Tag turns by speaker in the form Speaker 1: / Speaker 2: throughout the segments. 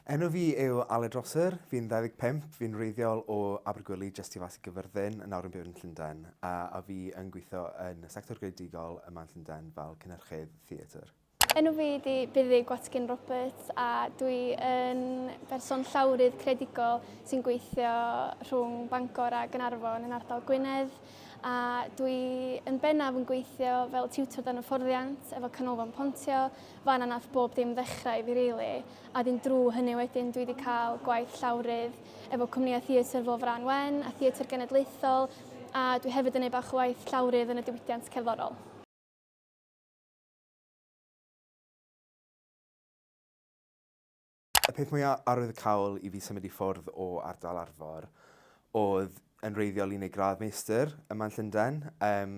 Speaker 1: Enw fi yw Aled Rosser, fi'n 25, fi'n reiddiol o Abergwili, jyst i fas i gyfyrddin, yn awr yn byw yn Llundain, a, a fi yn gweithio yn y sector greadigol yma yn Llundain fel cynhyrchydd theatr. Enw fi ydi
Speaker 2: Buddy Gwatkin Roberts a dwi yn berson llawrydd creadigol sy'n gweithio rhwng Bangor a Gynarfon yn ardal Gwynedd. A dwi yn bennaf yn gweithio fel tiwtor dan hyfforddiant efo Canolfan Pontio, fan yna nath bob dim ddechrau i fi rili, a ddim drw hynny wedyn dwi wedi cael gwaith llawrydd efo cwmnïau theatr fel Frân Wen a Theatr Genedlaethol, a dwi hefyd yn neud bach o waith llawrydd yn y diwydiant cerddorol.
Speaker 1: Y peth mwya arwyddocaol i fi symud i ffwrdd o ardal Arfor oedd yn wreiddiol i wneud gradd meistr yma yn Llundain. Yym,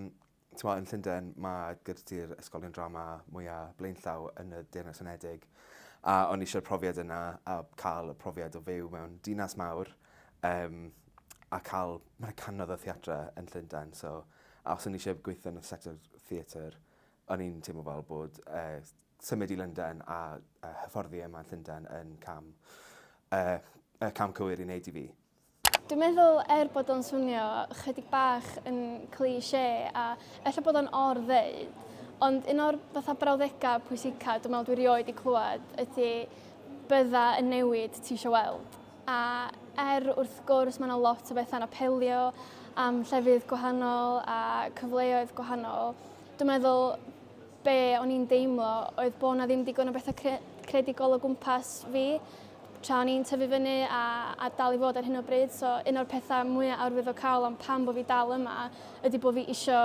Speaker 1: t'mo' yn Llundain ma' gyda ti'r ysgolion drama mwya blaenllaw yn y Deyrnas Unedig a o'n i eisiau'r profiad yna a cael y profiad o fyw mewn dinas mawr um, a cael... Mae yna canodd o theatre yn Llundain so a os o'n i eisiau gweithio yn y sector theatre o'n i'n teimlo fel bod uh, symud i Lundain a hyfforddi yma yn Llundain yn cam, uh, y cam cywir i wneud i fi. Dwi'n meddwl
Speaker 2: er bod o'n swnio chydig bach yn cliché a efallai bod o'n or ddeud, ond un o'r fatha brawddegau pwysica dwi'n meddwl dwi rioed i clywed ydy bydda yn newid ti eisiau weld. A er wrth gwrs mae yna lot o bethau'n apelio am llefydd gwahanol a cyfleoedd gwahanol, dwi'n meddwl be o'n i'n deimlo oedd bod 'na ddim digon o bethau cre credigol o gwmpas fi tra o'n i'n tyfu fyny a, a dal i fod ar hyn o bryd. So un o'r pethau mwyaf arwyddocaol am pam bod fi dal yma ydy bod fi isio,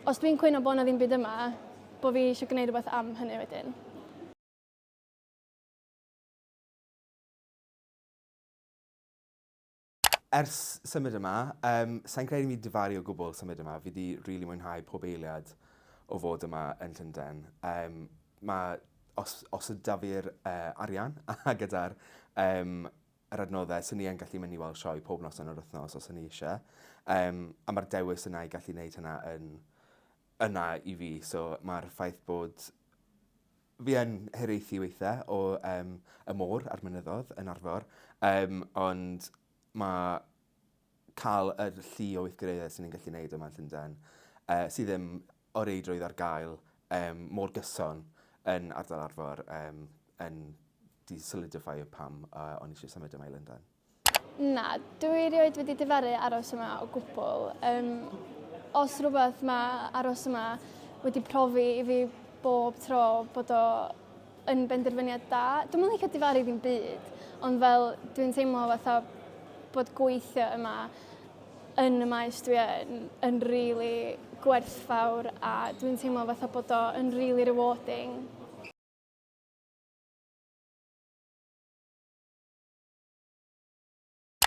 Speaker 2: os dwi'n cwyno bod 'na ddim byd yma, bod fi eisiau gwneud rhywbeth am hynny wedyn.
Speaker 1: Ers symud yma, yym, sai'n credu i mi difaru o gwbl symud yma, fi 'di rili mwynhau pob eiliad o fod yma yn Llundain. Yym, ma'... os os o'dd 'da fi'r yy arian a gyda'r yym yr adnoddau, swn i yn gallu mynd i weld sioe pob noson yr wythnos os o'n i isie. Yym, a ma'r dewis yna i gallu neud hynna yn yna i fi, so ma'r ffaith bod Fi yn hiraethu weithiau o yym y môr a'r mynyddoedd yn Arfor yym ond mae cael yr llu o weithgareddau sy'n ni'n gallu neud yma yn Llundain yy sydd ddim o reidrwydd ar gael yym mor gyson yn ardal Arfor yym yn 'di solidiffeio pam yy o'n i isie symud yma i Lundain. Na,
Speaker 2: dwi erioed wedi difaru aros yma o gwbl. Um, os rhywbeth mae aros yma wedi profi i fi bob tro bod o yn benderfyniad da. Dwi'n mynd licio difaru ddim byd, ond fel dwi'n teimlo fatha bod gweithio yma yn y maes dwi yn, yn really gwerthfawr a dwi'n teimlo fatha bod o yn really rewarding.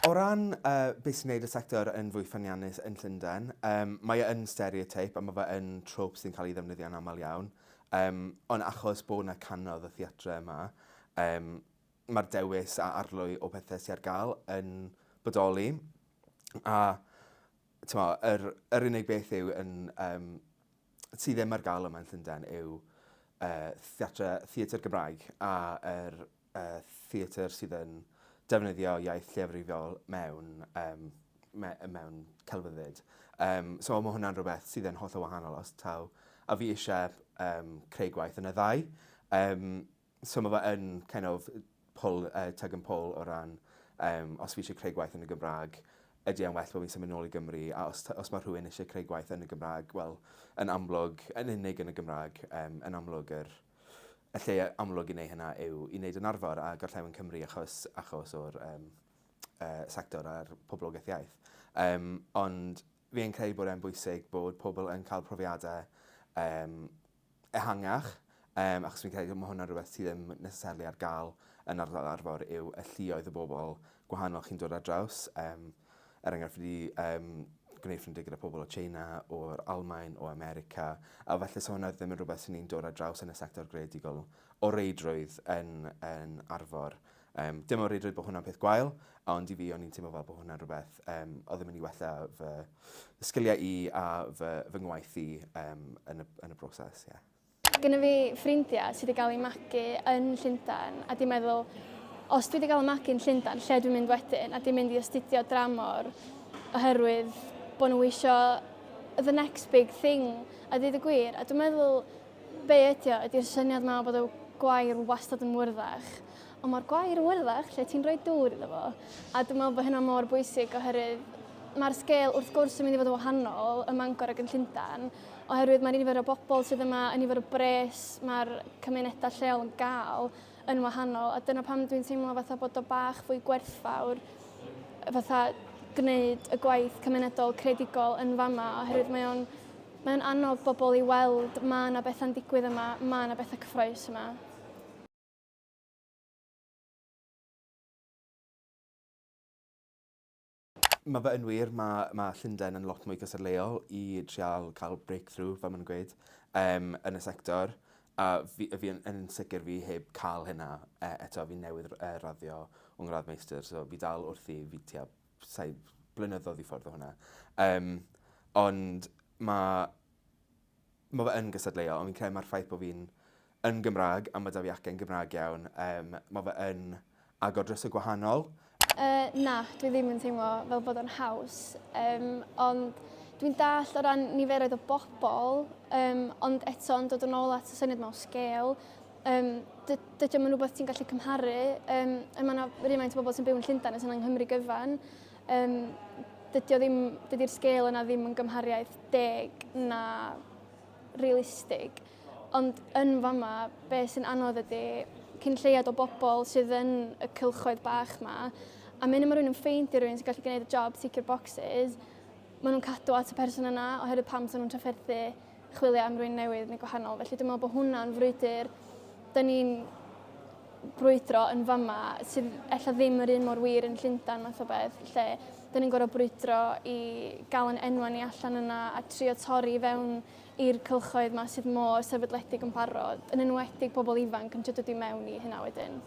Speaker 1: O ran uh, beth sy'n gwneud y sector yn fwy ffyniannus yn Llundain, um, mae e yn stereotype a mae fe yn trope sy'n cael ei ddefnyddio yn aml iawn. Um, ond achos bod yna canodd y theatre yma, um, mae'r dewis a arlwy o pethau sy'n ar gael yn bodoli. A tyma, yr, yr unig beth yw yn, um, sydd ddim ar gael yma yn Llundain yw uh, theatre, theatre Gymraeg a yr er y theatr sydd yn defnyddio iaith lleiafrifiol mewn, um, me, mewn celfyddyd. Um, so mae hwnna'n rhywbeth sydd yn holl o wahanol os taw. A fi eisiau um, creu gwaith yn y ddau. Um, so mae fe yn kind of pull, uh, tug and pull o ran um, os fi eisiau creu gwaith yn y Gymraeg, ydy e'n well bod fi'n symud nôl i Gymru, a os, os mae rhywun eisiau creu gwaith yn y Gymraeg, wel, yn amlwg, yn unig yn y Gymraeg, um, yn amlwg yr, er, Y lle amlwg i wneud hynna yw i wneud yn arfer â gorllewin Cymru achos, achos o'r um, uh, sector a'r poblogaeth iaith. Um, ond fi yn credu bod e'n bwysig bod pobl yn cael profiadau um, ehangach, um, achos fi'n credu bod hwnna'n rhywbeth sydd ddim necessarily ar gael yn ardal arfer yw y llioedd y bobl gwahanol chi'n dod ar draws. Um, er enghraifft, fi wedi um, gwneud ffrindiau gyda pobl o China, o'r Almain, o America, a felly so hwnna ddim yn rhywbeth sy'n ni'n dod ar draws yn y sector greadigol o reidrwydd yn, yn arfor. Um, dim o reidrwydd bod hwnna'n peth gwael, ond i fi o'n i'n teimlo fel bod hwnna'n rhywbeth um, o ddim yn ei wella fy sgiliau i a fy, fy ngwaith i um, yn, y, yn y broses. Yeah. Mae gennym
Speaker 2: fi ffrindiau sydd wedi cael eu magu yn Llundain a dwi'n meddwl os dwi wedi cael y magu yn Llundain, lle dwi'n mynd wedyn? A dwi'n mynd i astudio dramor oherwydd bod nhw isio the next big thing a dweud y gwir. A dwi'n meddwl be ydy o ydy'r syniad yma bod y gwair wastad yn wyrddach Ond mae'r gwair wyrddach lle ti'n rhoi dŵr iddo fo. A dwi'n meddwl bod hynna mor bwysig oherwydd mae'r sgêl wrth gwrs yn mynd i fod yn wahanol ym Mangor ac yn Llundain, oherwydd mae'r nifer o bobl sydd yma, y nifer o bres mae'r cymunedau lleol yn gael yn wahanol, a dyna pam dwi'n teimlo fatha bod o bach fwy gwerthfawr fatha gwneud y gwaith cymunedol credigol yn fama, oherwydd mae o'n mae o'n annog bobl i weld mae yna bethau'n digwydd yma, mae yna bethau cyffroes yma.
Speaker 1: Mae fe yn wir, mae mae Llundain yn lot mwy cystadleuol i trial cael breakthrough fel ma' nw'n gweud yym yn y sector a fi yy fi yn yn sicir fi heb ca'l hynna e- eto fi newydd r- yy raddio fy ngradd meistr so fi dal wrthi fi tua saith blynyddodd i ffwrdd o hwnna. Yym ond ma' Mae fe yn gystadleuol, ond fi'n credu mae'r ffaith bod fi'n yn Gymraeg a mae 'da fi acen Gymraeg iawn, um, mae fe yn agor dros y gwahanol. Uh, na,
Speaker 2: dwi ddim yn teimlo fel bod o'n haws, um, ond dwi'n dall o ran niferoedd o bobl, um, ond eto yn dod yn ôl at y syniad mewn sgêl, um, dydy o'n rhywbeth ti'n gallu cymharu. Um, mae yna rhywfaint o bobl sy'n byw yn Llundain a sy'n yng Nghymru gyfan, Um, dydy o ddim, dydy'r sgêl yna ddim yn gymhariaeth deg na realistig. Ond yn fama, be sy'n anodd ydy cyn lleiad o bobl sydd yn y cylchoedd bach ma, a mynd yma rhywun yn ffeind i rhywun sy'n gallu gwneud y job, tick your boxes, maen nhw'n cadw at y person yna oherwydd pam sy'n nhw'n trafferthu chwilio am rwy'n newydd neu gwahanol. Felly dwi'n meddwl bod hwnna'n frwydr dyn ni'n brwydro yn fama sydd efallai ddim yr un mor wir yn Llundain math o beth lle dyn ni'n gorfod brwydro i gael yn enwa ni allan yna a trio torri fewn i'r cylchoedd yma sydd mor sefydledig yn barod yn enwedig pobl ifanc yn trio dod i mewn i hynna wedyn.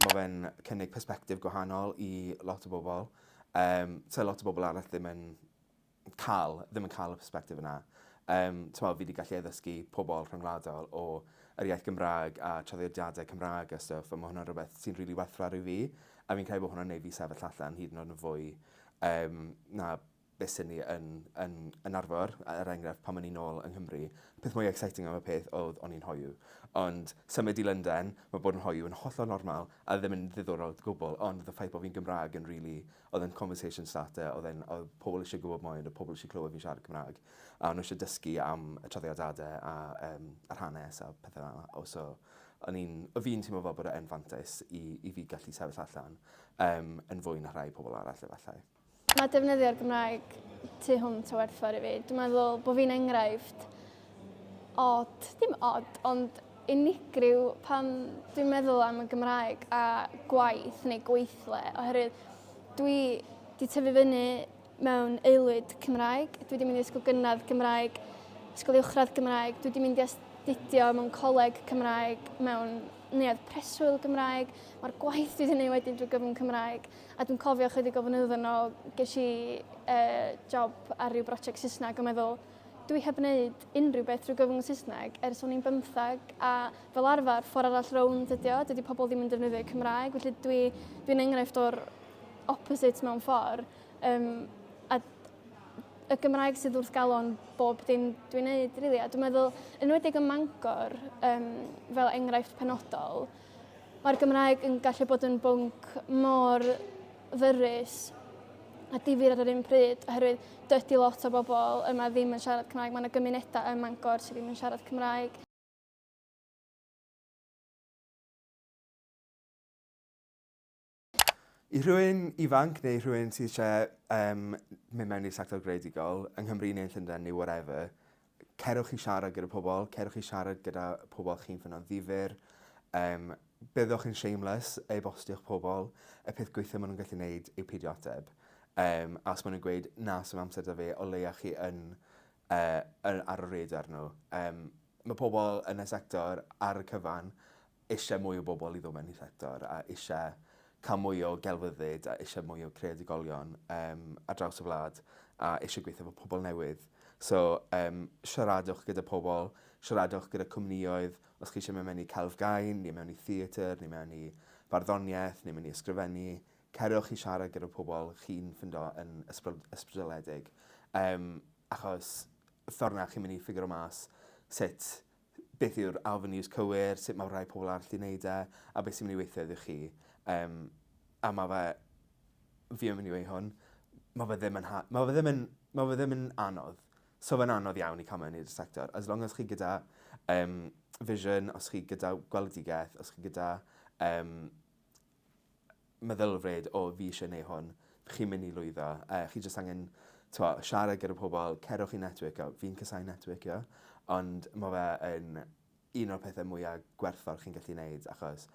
Speaker 1: ma' fe'n cynnig persbectif gwahanol i lot o bobol yym sa lot o bobol arall ddim yn ca'l ddim yn ca'l y persbectif yna. Yym t'mo' fi 'di gallu addysgu pobol rhyngwladol o yr iaith Gymraeg a traddodiade Cymraeg a stwff a ma' hwnna'n rwbeth sy'n rili werthfawr i fi a fi'n credu bo' hwnna'n neud fi sefyll allan hyd yn o'd yn fwy yym na beth sy'n ni yn yn yn arfer er enghraifft pan o'n i'n nôl yng Nghymru peth mwya exciting am y peth odd o'n i'n hoyw ond symud i Lundain ma' bod yn hoyw yn hollol normal a ddim yn ddiddorol o gwbwl ond the faith bo fi'n Gymraeg yn rili odd yn conversation starter odd e'n odd pobol isie gwbod mwy ond odd pobol isie clywed fi'n siarad Cymraeg a o'n nw isie dysgu am y traddodiade a yym yr hanes a pethe fel 'a o so o'n i'n o fi'n teimlo fel bod e yn fantais i i fi gallu sefyll allan yym yn fwy na rhai pobol arall efallai. Mae defnyddio'r
Speaker 2: Gymraeg tu hwnt o werthfawr i fi. Dwi'n meddwl bod fi'n enghraifft od, dim od, ond unigryw pan dwi'n meddwl am y Gymraeg a gwaith neu gweithle, oherwydd dwi wedi tyfu fyny mewn aelwyd Cymraeg, dwi wedi mynd i ysgol gynradd Gymraeg, ysgol uwchradd Gymraeg, dwi wedi mynd i astudio mewn coleg Cymraeg, mewn neuadd preswyl Gymraeg, mae'r gwaith dwi wedi gwneud wedyn drwy gyfrwng Cymraeg. A dwi'n cofio chydig o flynyddoedd yn ôl, ges i uh, job ar ryw brosiect Saesneg a meddwl, dwi heb wneud unrhyw beth drwy gyfrwng y Saesneg ers o'n i'n bymthag a fel arfer ffordd arall rownd ydi o, dydy pobl ddim yn defnyddio Cymraeg, felly dwi, dwi'n enghraifft o'r opposite mewn ffordd. Um, a y Gymraeg sydd wrth galon bob dim dwi'n neud, really. A dwi'n meddwl, yn wedi ym Mangor, um, fel enghraifft penodol, Mae'r Gymraeg yn gallu bod yn bwnc mor ddyrus a difyr ar yr un pryd oherwydd dydy lot o bobl yma ddim yn siarad Cymraeg. Mae yna gymunedau ym Mangor sydd ddim yn siarad Cymraeg.
Speaker 1: I rhywun ifanc neu rhywun sydd eisiau um, mynd mewn i'r sector greadigol, yng Nghymru neu yn Llundain neu whatever, cerwch i siarad gyda pobl, cerwch i siarad gyda pobl chi'n ffynno'n ddifur, um, byddwch yn shameless ei bostiwch pobl, y peth gweithio maen nhw'n gallu gwneud yw peidio ateb. Um, a os maen nhw'n gweud, na, sy'n amser da fi, o leia chi yn, uh, yn ar y radar nhw. Um, mae pobl yn y sector ar y cyfan eisiau mwy o bobl i ddod mewn i'r sector a eisiau cael mwy o gelfyddyd a eisiau mwy o creadigolion um, ar draws y wlad a eisiau gweithio efo pobl newydd. So, um, siaradwch gyda pobl, siaradwch gyda cwmnioedd, os chi eisiau mynd mewn i celf gain, neu mewn i theatr, neu mewn i farddoniaeth, neu mewn i ysgrifennu, cerwch i siarad gyda pobl chi'n ffindo yn ysbrydoledig. Um, achos ffordd na chi'n mynd i ffigur o mas sut beth yw'r avenues cywir, sut mae rhai pobl arall 'di neud e, a beth sy'n myn' i weithio iddo chi. Yym a ma' fe fi yn myn' i weu' hwn ma' fe ddim yn ha- ma' fe ddim yn ma' fe ddim yn anodd. So fe'n anodd iawn i ca'l mewn i'r sector as long as chi gyda yym vision os chi gyda gweledigeth os chi gyda yym meddylfryd o fi isie neu hwn, chi'n mynd i lwyddo, yy chi jyst angen t'mo' siarad gyda pobol, cerwch i networkio, fi'n casau networkio ond ma' fe yn un o'r pethe mwya gwerthfawr chi'n gallu neud achos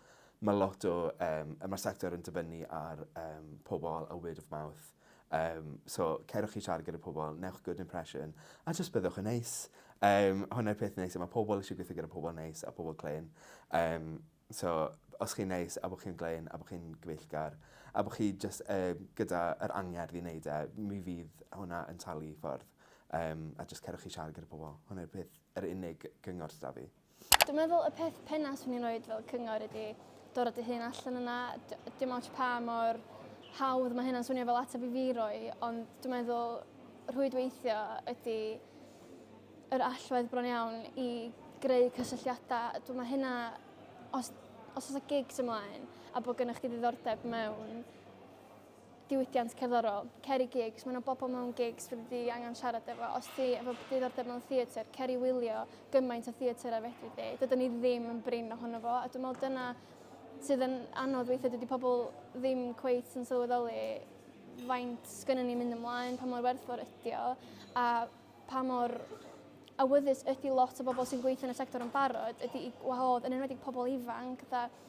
Speaker 1: ma' lot o yym yy ma'r sector yn dibynnu ar yym pobol a word of mouth yym so cerwch i siarad gyda pobol, newch good impression a jyst byddwch yn neis. Yym hwnna'r peth neis a ma' pobol isie gwithio gyda pobol neis a pobol clên yym So, os chi'n neis, a bod chi'n glên, a bod chi'n gyfeillgar, a bod chi jyst um, gyda yr angerdd i wneud e, mi fydd hwnna yn talu ffordd. Um, a jyst cerwch chi siarad gyda pobl. Hwna'r er peth, yr er unig gyngor sydd fi. Dwi'n meddwl y peth
Speaker 2: penna swn i'n rhoi fel cyngor ydy dod o dy hun allan yna. Dim ots pa mor hawdd mae hynna'n swnio fel ateb i fi roi, ond dwi'n meddwl rhwydweithio ydy yr allwedd bron iawn i greu cysylltiadau. Dwi'n meddwl hynna, os, os oes gigs ymlaen a bod gennych chi ddiddordeb mewn diwydiant cerddorol, cer i gigs, mae yna bobl mewn gigs fydd wedi angen siarad efo. Os ti efo diddordeb mewn theatr, cer i wylio gymaint o theatr a fedri di. Dydyn ni ddim yn brin ohono fo, a dwi'n meddwl dyna sydd yn anodd weithiau, dydy pobl ddim cweith yn sylweddoli faint sgynny ni'n mynd ymlaen, pa mor werthfawr ydi o, a pa mor awyddus ydi lot o bobl sy'n gweithio yn y sector yn barod ydi i gwahodd yn enwedig pobl ifanc fatha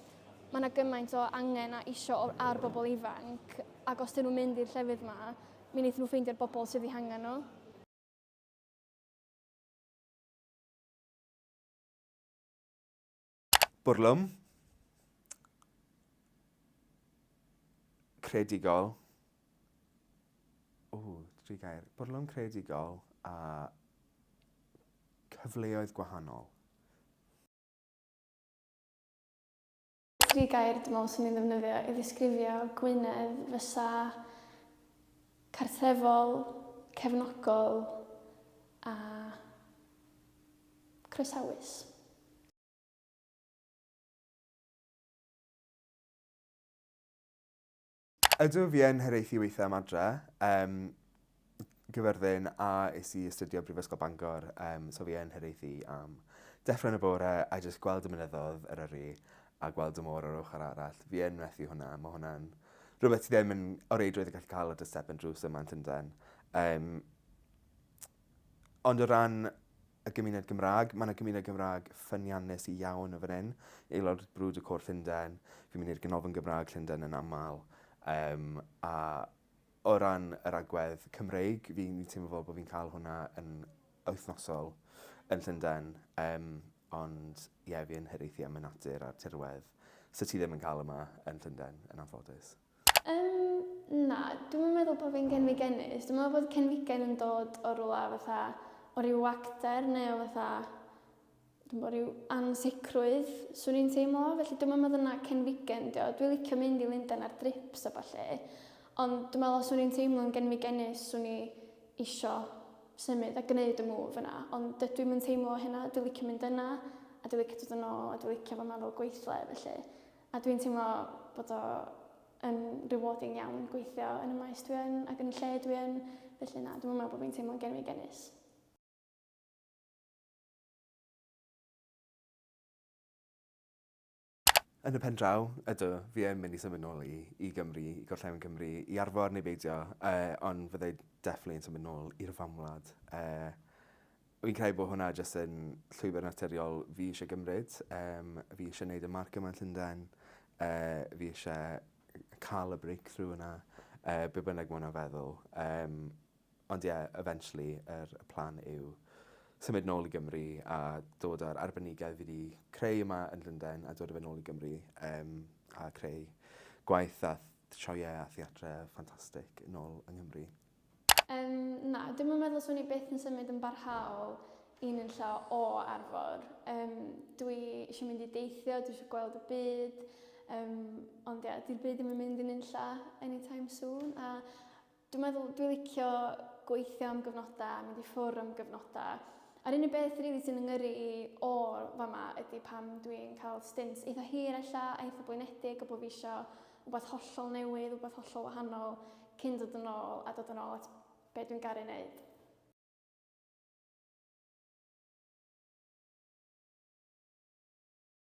Speaker 2: mae yna gymaint o angen a isio ar bobl ifanc ac os dyn nhw'n mynd i'r llefydd yma mi wnaethon nhw ffeindio'r bobl sydd eu hangen nhw.
Speaker 1: Bwrlwm. Credigol. O, tri gair. Bwrlwm credigol a cyfleoedd gwahanol.
Speaker 2: Tri gair dwi'n meddwl sy'n mynd ddefnyddio i ddisgrifio Gwynedd fysa cartrefol, cefnogol a croesawus.
Speaker 1: Ydw, fi yn hiraethu weithio am adre. Um, gyfyrddin a is i astudio Brifysgol Bangor, um, so fi yn hiraethu am deffro yn y bore a jyst gweld y mynyddodd yr yrru a gweld y môr o'r ochr arall. Fi yn methu hwnna, mae hwnna'n rhywbeth sydd ddim yn o reidrwydd yn gallu cael y dystep yn drws yma yn Llundain. Um, Ond o ran y gymuned Gymraeg, mae 'na gymuned Gymraeg ffyniannus iawn yn fan hyn. Aelod brwd y Côr Llundain, fi'n mynd i'r Ganolfan Gymraeg Llundain yn aml, um, a o ran yr agwedd Cymreig, fi'n fi teimlo fel bod fi'n cael hwnna yn wythnosol yn Llundain, um, ond ie, yeah, fi yn hyraethu am y natur a'r tirwedd. Sa ti ddim yn cael yma yn Llundain, yn anffodus. Yym,
Speaker 2: na, dwi'm yn meddwl bod fi'n genfigenus. Dwi'n meddwl bod cenfigen yn dod o rywle fatha, o ryw wagter neu o fatha, dwi'm bo, ryw ansicrwydd, 'swn i'n teimlo. Felly dwi'm yn meddwl na cenfigen 'di o. Dwi licio mynd i Lundain ar drips a ballu, ond dwi'n meddwl os o'n i'n teimlo'n genfigenus 'swn i isio symud a gneud y move yna. Ond dydw i'm yn teimlo hynna, dwi licio mynd yna a dwi licio dod yn ôl a dwi licio fama fel gweithle, felly. A dwi'n teimlo bod o yn rewarding iawn gweithio yn y maes dwi yn ac yn y lle dwi yn, felly na, dwi'm yn meddwl bod fi'n teimlo'n genfigennus.
Speaker 1: Yn y pen draw, ydw, fi yn mynd i symud nôl i i Gymru, i gorllewin Cymru, i arfar neu beidio, yy ond fyddai definitely yn symud nôl i'r fam wlad yy Fi'n credu bod hwnna jyst yn llwybr naturiol fi isie gymryd yym fi isie neud y marc yma yn Llundain yy fi isie yy ca'l y breakthrough yna yy be' bynnag ma' wnna'n feddwl yym ond ie eventually yr y plan yw symud nôl i Gymru a dod â'r arbenigedd fi 'di creu yma yn Llundain a dod â fe nôl i Gymru yym a creu gwaith a th- sioeau a theatre ffantastic nôl yng Nghymru. Yym,
Speaker 2: na, dwi'm yn meddwl 'swn i byth yn symud yn barhaol i nunlla o Arfor. Yym, dwi isio mynd i deithio, dwi isio gweld y byd, yym, ond ia, 'di'r byd ddim yn mynd i nunlla anytime soon, a dwi'n meddwl dwi licio gweithio am gyfnodau, mynd i ffwr am gyfnodau. A'r unig beth rili sy'n fy ngyrru i o fama ydy pam dwi'n cael stints eitha hir ella, a eitha blinedig, a bod fi isio rhywbeth hollol newydd, rhywbeth hollol wahanol cyn dod yn ôl a dod yn ôl at be dwi'n garu wneud.